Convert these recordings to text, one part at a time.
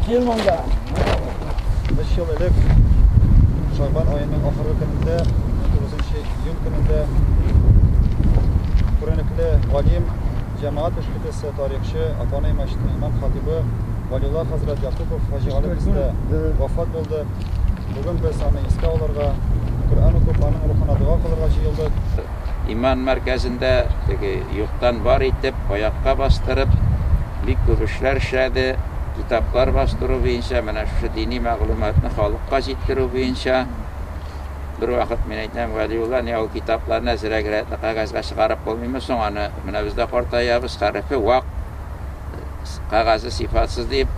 Кел монда. Без ел элек Шагбан аеның ахыргы көнендә, 9 июнь көнендә күренекле галим, җәмәгать эшлеклесе, тарихчы, Апанай мәчетенең имам хатибы Валиулла хәзрәт Якупов Хаҗи Гали бездә вафат булды. Бүген без аны искә алырга, Коръән укып, аның рухына дога кылырга җыелдык. иман мәркәзендә теге юктан бар итеп, аякка бастырып, бик күп эшләр эшләде, китаплар бастыру буенча, менә шушы дини мәгълүматны халыкка җиткерү буенча. Бервакыт мин әйтәм, Вәлиулла, ни ул китапларны әзрәк рәтле кәгазьгә чыгарып булмыймы соң аны, менә без дә картаябыз, хәрефе вак, кәгазе сыйфатсыз, дип.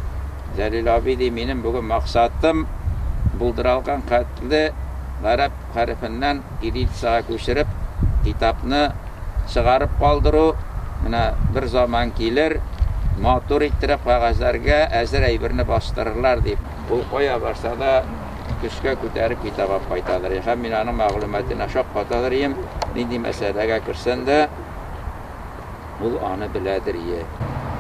Җәлил абый, ди, минем бүген максатым, булдыралган хәтле гарәп хәрефеннән, Кириллицага күчереп, китапны чыгарып калдыру, менә бер заман килер, матур иттереп кәгазьләргә әзер әйберне бастырырлар, дип. Ул кая барса да, көчкә күтәреп китап алып кайтадыр иде. Һәм мин аның мәгълүматына шаккатадыр идем, нинди мәсьәләгә керсән дә, Ул аны беләдер е.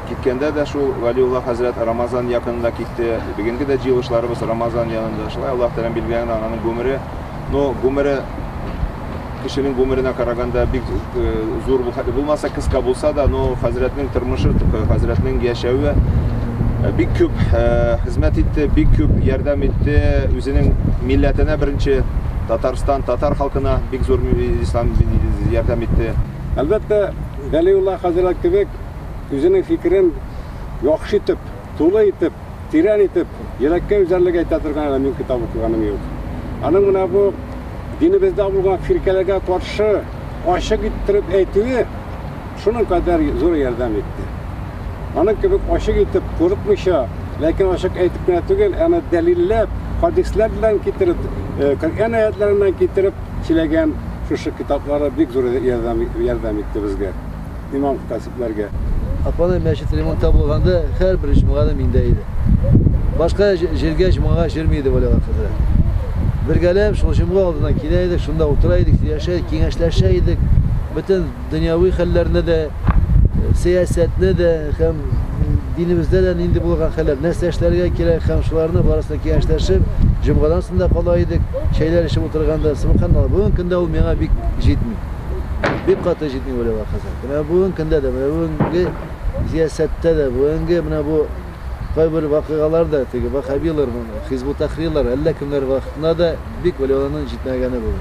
Киткәндә дә шул Вәлиулла хәзрәт Рамазан якынында китте, бегенге дә җыелышларыбыз Рамазан янында, шулай Аллаһ Тәгаләнең билгеләгән ананың гомере, ну, гомере кешенең гомеренә караганда бик зур бу, хәтта булмаса кыска булса да, ну, хәзрәтнең тормышы, хәзрәтнең яшәве бик күп хезмәт итте, бик күп ярдәм итте үзенең милләтенә беренче, Татарстан, татар халкына бик зур ислам ярдәм итте. Әлбәттә, Вәлиулла хәзрәт кебек үзенең фикерен яхшы итеп, тулы итеп, тирән итеп, йөрәккә өзәрлек әйтә торган әле мин китап укыганым юк. Аның менә бу динебездә булган фиркәләргә каршы ачык иттереп әйтүе шуның кадәр зур ярдәм итте. Аның кебек ачык итеп, курыкмыйча, ләкин ачык әйтеп кенә түгел, әмма дәлилләп, хадисләр белән китереп, Коръән аятларыннан китереп Теләгән шушы китаплары бик зур ярдәм ярдәм итте безгә, имам хатасипләргә. Апаны мәчет ремонтта булганда һәрбер җомганы миндә иде. Башка җиргә җомгага җөрми иде Валига хәзрәт. Бергәләп шул җомга алдына килә идек, шунда утыра идек, сөйләшә идек, киңәшләшә идек. Бөтен Дөньяви хәлләрне дә, сәясәтне дә һәм динебездә дә нинди булган хәлләр, нәрсә эшләргә кирәк һәм шуларны барысын да киңәшләшеп, җомгадан соң да кала идек, чәйләр эчеп утырганда, субханалла, бүгенге көндә ул миңа бик җитми. Бик каты җитми, Вәлиулла хәзрәт. Менә бүгенге көндә дә, менә бүгенге зиясәттә дә, бүгенге менә бу кайбер вакыйгалар да, теге ваһһабилар, Хизб ут-Тәхририлар, әллә кемнәр вакытында да бик Вәлиулланың җитмәгәне булды.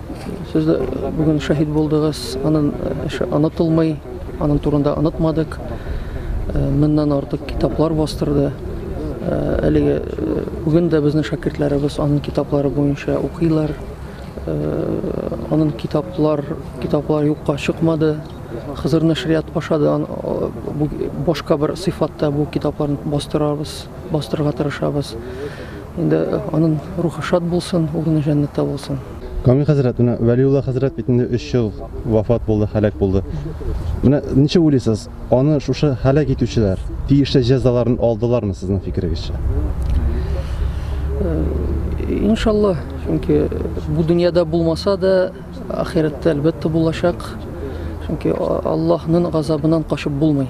Сез дә бүген шәһид булдыгыз, анын эше онытылмый, анын турында онытмадык. Мыннан артык китаплар бастырды. Әлеге бүген дә безнең шәкертләребез анын китаплары буенча укыйлар. Анын китаплар, китаплар юкка чыкмады. Хызыр нәшрият аша да башка бер сыйфатта бу китапларны бастырабыз, бастырырга тырышабыз. Инде анын рухы шат булсын, урыны җәннәттә булсын. Камил хәзрәт, менә Вәлиулла хәзрәт бит инде өч ел вафат булды, һәлак булды. Менә ничек уйлыйсыз, аны шушы һәлак итүчеләр тиешле җәзаларын алдылармы сезнең фикерегезчә? Иншалла, чөнки бу дөньяда булмаса да, Ахирәттә әлбәттә булачак, чөнки Аллаһның газабыннан качып булмый.